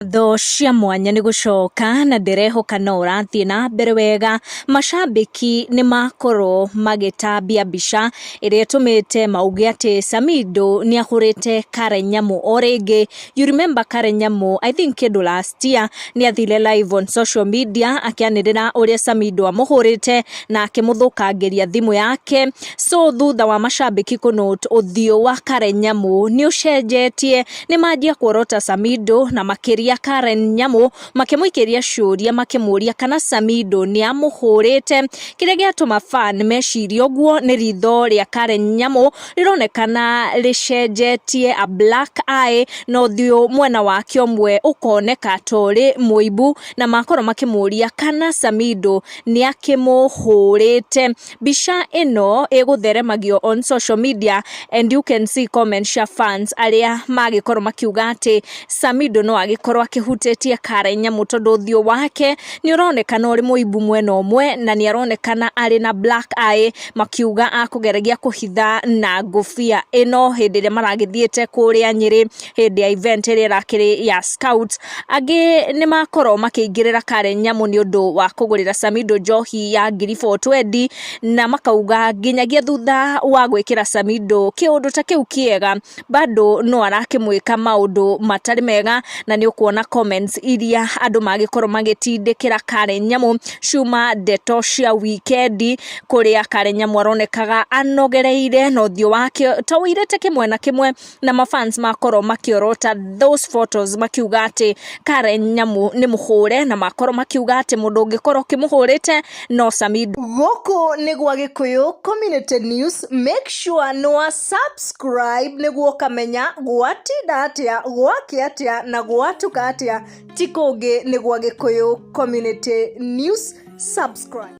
ngatho cia mwanya nĩ gũcoka na ndĩrehoka no ũrathiĩ na mbere wega macambĩki nĩ makorwo magĩtambia mbica ĩrĩa ĩtũmĩte mauge atĩ Samido nĩ ahũrĩte Karen Nyamu o rĩngĩ you remember Karen Nyamu I think kĩndũ last year nĩ athire live on social media akĩanĩrĩra ũrĩa Samido amũhũrĩte na akĩmũthũkangĩria thimũ yake so thutha wa macambĩki kũnũte ũthiũ wa Karen Nyamu nĩ ũcenjetie nĩ manjia kuorota Samido na makĩria Karen Nyamũ makĩmũikĩria ciũria makĩmũria kana Samido nĩ amũhũrĩte kĩrĩa gĩatũma fan meciria ũguo nĩ ritho rĩa Karen Nyamũ rĩronekana rĩcenjetie a black eye na ũthiũ mwena wake ũmwe ũkoneka torĩ mũimbu na makorwo makĩmũria kana Samido nĩ akĩmũhũrĩte. Mbica ĩno ĩgũtheremagio on social media and you can see comments cia fans arĩa magĩkorwo makiuga atĩ Samido no agĩkorwo akĩhutĩtie Karen Nyamu tondũ ũthiũ wake nĩ ũronekana ũrĩ mũimbu mwena ũmwe na nĩ aronekana arĩ na black eye makiuga akũgeragia kũhitha na ngũbia ĩno hĩndĩ ĩrĩa maragĩthiĩte kũrĩa Nyĩrĩ. hĩndĩ ya event ĩrĩa ĩrakĩrĩ ya Scouts. Angĩ nĩ makorwo makĩingĩrĩra Karen Nyamu nĩ ũndũ wa kũgũrĩra Samido njohi ya ngiri four twendi, na makauga nginyagia thutha wa gwĩkĩra Samido kĩũndũ ta kĩu kĩega, bado no arakĩmwĩka maũndũ matarĩ mega, na nĩ ũkuona comments iria andũ magĩkorwo magĩtindĩkĩra Karen Nyamu ciuma ndeto cia wikendi, kũrĩa Karen Nyamu aronekaga anogereire na ũthiũ wake ta ũirĩte kĩmwena kĩmwe, na ma fans makorwo makiorota those photos makiuga ati Karen Nyamu ni muhure na makorwo makiuga ati mundu ungikorwo ukimuhurite no Samido Gũkũ nĩ gwa Gĩkũyũ Community News, make sure nĩ wa subscribe nĩguo ũkamenya gwatinda atĩa, gwakĩa atĩa na gwatuka atĩa. Ti kũngĩ nĩ gwa Gĩkũyũ Community News, subscribe.